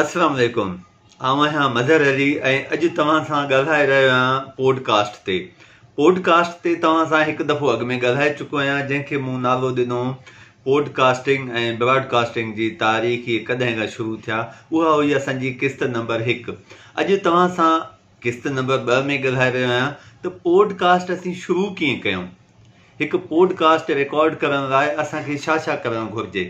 السلام عليڪم آئون آهيان مظهر علي ۽ اڄ توهان سان ڳالهائي رهيو آهيان پوڊ ڪاسٽ تي پوڊ ڪاسٽ تي توهان سان هڪ دفعو اڳ ۾ ڳالهائي چڪو آهيان جنهن کي مون نالو ڏنو پوڊ ڪاسٽنگ ۽ براڊ ڪاسٽنگ جي تاريخ ڪڏهن کان شروع ٿيا اها هئي اسان جي قسط نمبر هڪ اڄ توهان سان قسط نمبر ٻه ۾ ڳالهائي رهيو آهيان ته پوڊ ڪاسٽ اسين شروع ڪيئن ڪيون هڪ پوڊ ڪاسٽ رڪارڊ ڪرڻ لاء اسان کي ڇا ڇا ڪرڻ گهرجي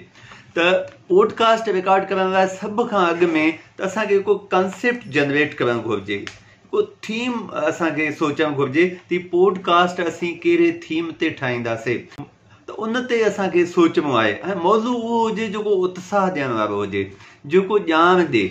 ته پوڊ ڪاسٽ رڪارڊ ڪرڻ لاء سڀ کان اڳ ۾ ته اسان کي هڪ ڪانسيپٽ جنريٽ ڪرڻ گهرجي هڪ ٿيم اسان کي سوچڻ گهرجي ته پوڊ ڪاسٽ اسين ڪهڙي ٿيم تي ٺاهينداسي ته ان تي اسان کي سوچڻو آهي ۽ موضوع اهو هجي جيڪو اتساهه ڏيڻ وارو هجي جيڪو ڄاڻ ڏي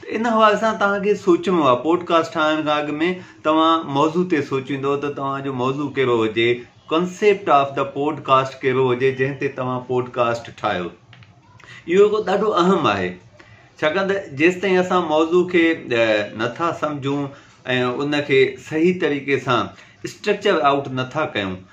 ته ان حوالي سان توهان کي سوچڻو آهي پوڊ ڪاسٽ ٺاهڻ کان اڳ ۾ توهان موضوع تي سوچيندو ته توهان جو موضوع ڪهڙو هجي concept of the podcast ڪهڙو هجي جنهن تي توهان پوڊ ڪاسٽ ٺاهيو اهو هڪ ڏاڍو اهم آهي ڇاڪاڻ ته جيستائين اسان موضوع کي نٿا سمجھون ۽ ان کي صحيح طريقي سان اسٽرڪچر آؤٽ نٿا ڪيون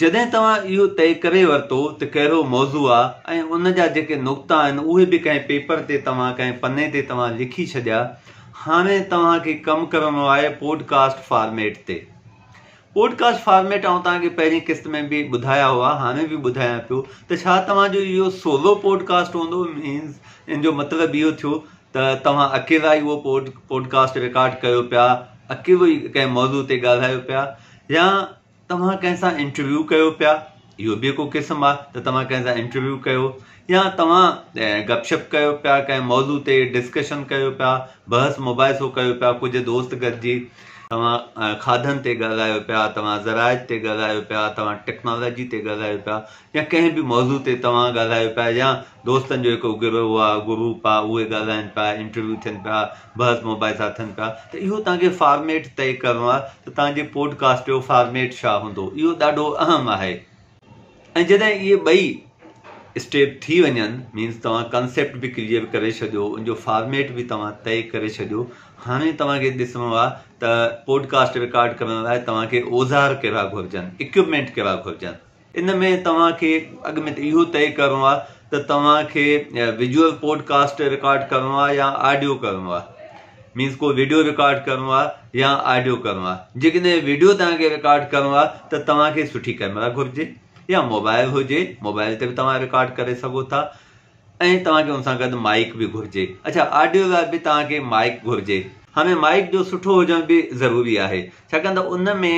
جڏهن توهان اهو طئي ڪري ورتو ته ڪهڙو موضوع آ ۽ ان جا جيڪي نقطا آهن اهي به ڪنهن پيپر تي توهان ڪنهن پني تي توهان لکي ڇڏيا هاڻي توهان کي ڪم ڪرڻو آهي پوڊ ڪاسٽ فارميٽ تي پوڊ ڪاسٽ فارميٽ آئون توهان کي پهرين قسط ۾ به ٻڌايا هئا هاڻي به ٻڌايان پيو ته ڇا توهان جو اهو سولو پوڊ ڪاسٽ هوندو مينز ان جو مطلب اهو ٿيو ته توهان اڪيلا ئي اهو پوڊ پوڊ ڪاسٽ رڪارڊ ڪيو پيا اڪيلو ئي ڪنهن موضوع تي ڳالهايو پيا يا توهان ڪنهن سان انٽرويو ڪيو پيا اهو به ڪو قسم آ ته توهان ڪنهن سان انٽرويو ڪيو يا توهان گپ شپ ڪيو پيا ڪنهن موضوع تي ڊسڪشن ڪيو پيا بحث مباحثو ڪيو پيا ڪجهه دوست گڏجي توهان کاڌن تي ڳالهايو پيا توهان زراعت تي ڳالهايو پيا توهان ٽيڪنالاجي تي ڳالهايو پيا يا ڪنهن به موضوع تي توهان ڳالهايو پيا يا دوستن جو هڪ گروه آ گروپ آ اهي ڳالهائن پيا انٽرويو ٿين پيا بحث مباحث اٿن پيا ته اهو توهان کي فارميٽ طئي ڪرڻو آهي ته توهان جي پوڊڪاسٽ جو فارميٽ ڇا هوندو اهو ڏاڍو اهم آهي ۽ جڏهن اهي ٻئي اسٽيپ ٿي وڃن مينس توهان ڪانسيپٽ به ڪليئر ڪري ڇڏيو ان جو فارميٽ به توهان طئي ڪري ڇڏيو هاڻي توهان کي ڏسڻو آهي ته پوڊڪاسٽ رڪارڊ ڪرڻ لاء توهان کي اوزار ڪهڙا گهرجن اڪيوپمينٽ ڪهڙا گهرجن ان ۾ توهان کي اڳ ۾ ته اهو طئي ڪرڻو آهي ته توهان کي ويجوئل پوڊڪاسٽ رڪارڊ ڪرڻو آهي يا آڊيو ڪرڻو آهي مينس ڪو ويڊيو رڪارڊ ڪرڻو آهي يا آڊيو ڪرڻو آهي جيڪڏهن ويڊيو توهان کي رڪارڊ ڪرڻو آهي ته توهان کي سٺي ڪئميرا گهرجي يا موبائل هجي موبائل تي به توهان رڪارڊ ڪري سگهو ٿا ۽ توهان کي ان سان گڏ مائڪ به گهرجي اچا آڊيو لاء به توهان کي مائڪ گهرجي هاڻي مائڪ جو سٺو هجڻ به ضروري آهي ڇاڪاڻ ته ان ۾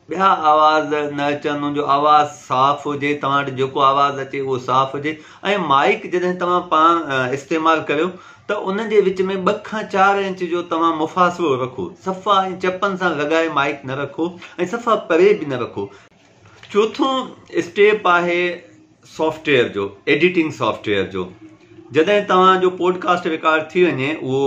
ٻيا آواز نه اچن، ان جو آواز صاف هجي، توهان وٽ جيڪو آواز اچي اهو صاف هجي ۽ مائيڪ جڏهن توهان پاڻ استعمال ڪريو ته ان جي وچ ۾ ٻه کان چار انچ جو توهان مفاصلو رکو، صفا ائين چپن سان لڳائي مائيڪ نه رکو ۽ صفا پري به نه رکو. چوٿون اسٽيپ آهي. سافٽ ويئر جو ايڊيٽنگ سافٽ ويئر جو جڏهن توهان جو پوڊڪاسٽ رڪارڊ ٿي وڃي اهو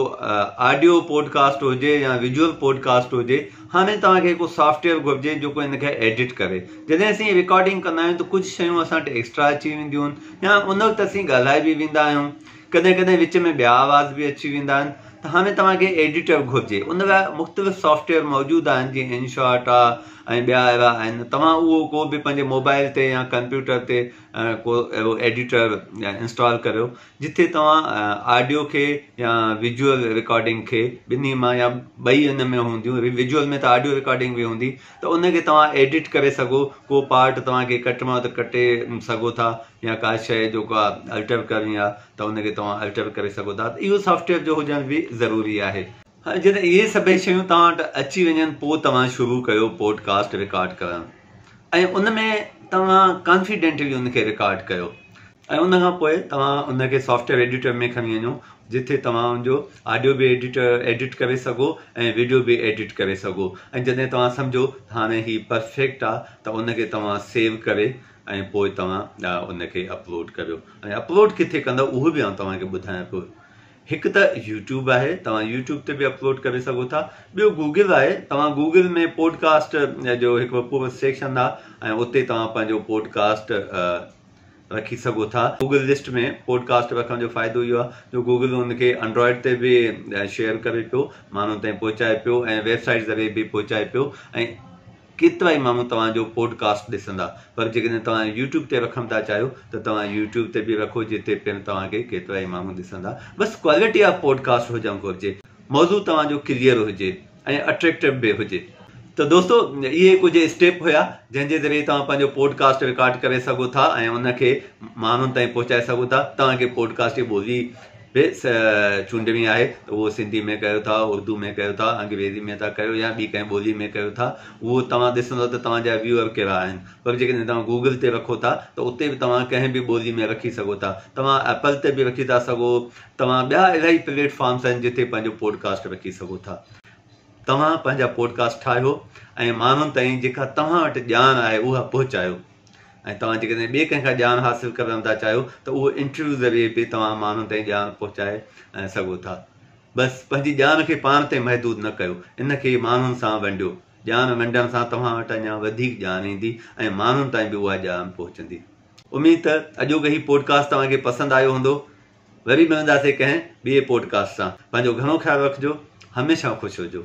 آڊيو پوڊڪاسٽ هجي يا ويجوئل پوڊڪاسٽ هجي هاڻي توهان کي هڪ سافٽ ويئر گهرجي جيڪو ان کي ايڊيٽ ڪري جڏهن اسين رڪارڊنگ ڪندا آهيون ته ڪجهه شيون اسان وٽ ايڪسٽرا اچي وينديون آهن يا ان وقت اسين ڳالهائي به ويندا آهيون ڪڏهن ڪڏهن وچ ۾ ٻيا آواز به اچي ويندا آهن ته هاڻي توهان کي ايڊيٽر گهرجي ان لاء مختلف سافٽ ويئر موجود آهن جيئن ان شاٽ آهي ۽ ٻيا اهڙا آهن توهان اهو ڪو به پنهنجي موبائل تي يا ڪمپيوٽر تي ڪو اهڙو ايڊيٽر انسٽال ڪريو جتي توهان آڊيو کي يا ويجوئل رڪارڊنگ کي ٻنهي مان يا ٻئي ان ۾ هونديون ويجوئل ۾ ته آڊيو رڪارڊنگ به هوندي ته ان کي توهان ايڊيٽ ڪري سگهو ڪو پارٽ توهان کي ڪٽڻو آهي ته ڪٽي سگهو ٿا يا ڪا شيء جو ڪا الٽر ڪرڻي آ ته ان کي توهان الٽر ڪري سگهو ٿا ته اهو سافٽويئر جو هجڻ به ضروري آهي. هاڻي جڏهن اهي سڀئي شيون توهان وٽ اچي وڃن پوء توهان شروع ڪيو پوڊ ڪاسٽ رڪارڊ ڪرڻ ۽ ان ۾ توهان ڪانفيڊينٽلي ان کي رڪارڊ ڪيو ۽ ان کان پوء توهان ان کي سافٽويئر ايڊيٽر ۾ کڻي وڃو جتي توهان ان جو آڊيو به ايڊيٽر ايڊيٽ ڪري سگهو ۽ ويڊيو به ايڊيٽ ڪري سگهو ۽ جڏهن توهان سمجهو ته هاڻي هي پرفيڪٽ آ ته ان کي توهان سيو ڪري ۽ پوء توهان ان کي اپلوڊ ڪريو ۽ اپلوڊ ڪٿي ڪندو اهو به آئون توهان کي ٻڌايان پيو هڪ ته يوٽيوب آهي توهان يوٽيوب تي به اپلوڊ ڪري سگهو ٿا ٻيو گوگل آهي توهان گوگل ۾ پوڊڪاسٽ جو هڪ پورو سيڪشن آهي ۽ اتي توهان پنهنجو پوڊڪاسٽ رکي سگهو ٿا گوگل لسٽ ۾ پوڊڪاسٽ رکڻ جو فائدو اهو آهي جو گوگل ان کي انڊرائڊ تي به شيئر ڪري پيو ماڻهن تائين پهچائي پيو ۽ ويب سائيٽ ذريعي به پهچائي پيو ۽ ڪيترائي ماڻهو توهان جو پوڊ ڪاسٽ ڏسندا پر جيڪڏهن توهان يوٽيوب تي رکڻ ٿا چاهيو ته توهان يوٽيوب تي به رکو جتي پڻ توهان کي ڪيترائي ماڻهو ڏسندا بس ڪوالٽي آف پوڊ ڪاسٽ هجڻ گهرجي موضوع توهان جو ڪليئر هجي ۽ اٽريڪٽو به هجي. ته دوستو اهي ڪجهه اسٽيپ هيا جنهن جي ذريعي توهان پنهنجو پوڊ ڪاسٽ رڪارڊ ڪري سگهو ٿا ۽ ان کي ماڻهن تائين پهچائي سگهو ٿا توهان کي پوڊ ڪاسٽ جي ٻولي به چونڊ ۾ آهي ته اهو سنڌي ۾ ڪيو ٿا، اردو ۾ ڪيو ٿا، انگريزي ۾ ٿا ڪيو يا ٻي ڪنهن ٻولي ۾ ڪيو ٿا اهو توهان ڏسندو ته توهان جا ويوئر ڪهڙا آهن پر جيڪڏهن توهان گوگل تي رکو ٿا ته اتي به توهان ڪنهن به ٻولي ۾ رکي سگهو ٿا توهان ايپل تي به رکي ٿا سگهو توهان ٻيا الاهي پليٽ فارمس آهن جتي پنهنجو پوڊڪاسٽ رکي سگهو ٿا توهان پنهنجا پوڊڪاسٽ ٺاهيو ۽ ماڻهن تائين جيڪا توهان وٽ ڄاڻ آهي اها پهچايو ۽ توهان جيڪڏهن ٻئي ڪنهن کان ڄاڻ حاصل ڪرڻ ٿا چاهيو ته اهو انٽرويو ذريعي به توهان ماڻهن تائين ڄاڻ پهچائي سگهو ٿا. بس پنهنجي ڄاڻ کي پاڻ تي محدود نه ڪيو، ان کي ماڻهن سان ونڊيو. ڄاڻ ونڊڻ سان توهان وٽ اڃا وڌيڪ ڄاڻ ايندي ۽ ماڻهن تائين به اها ڄاڻ پهچندي. اميد ته اڄوڪي هي پوڊڪاسٽ توهان کي پسند آيو هوندو. وري ملنداسين ڪنهن ٻئي پوڊڪاسٽ سان. پنهنجو گهڻو خيال رکجو. هميشه خوش هجو.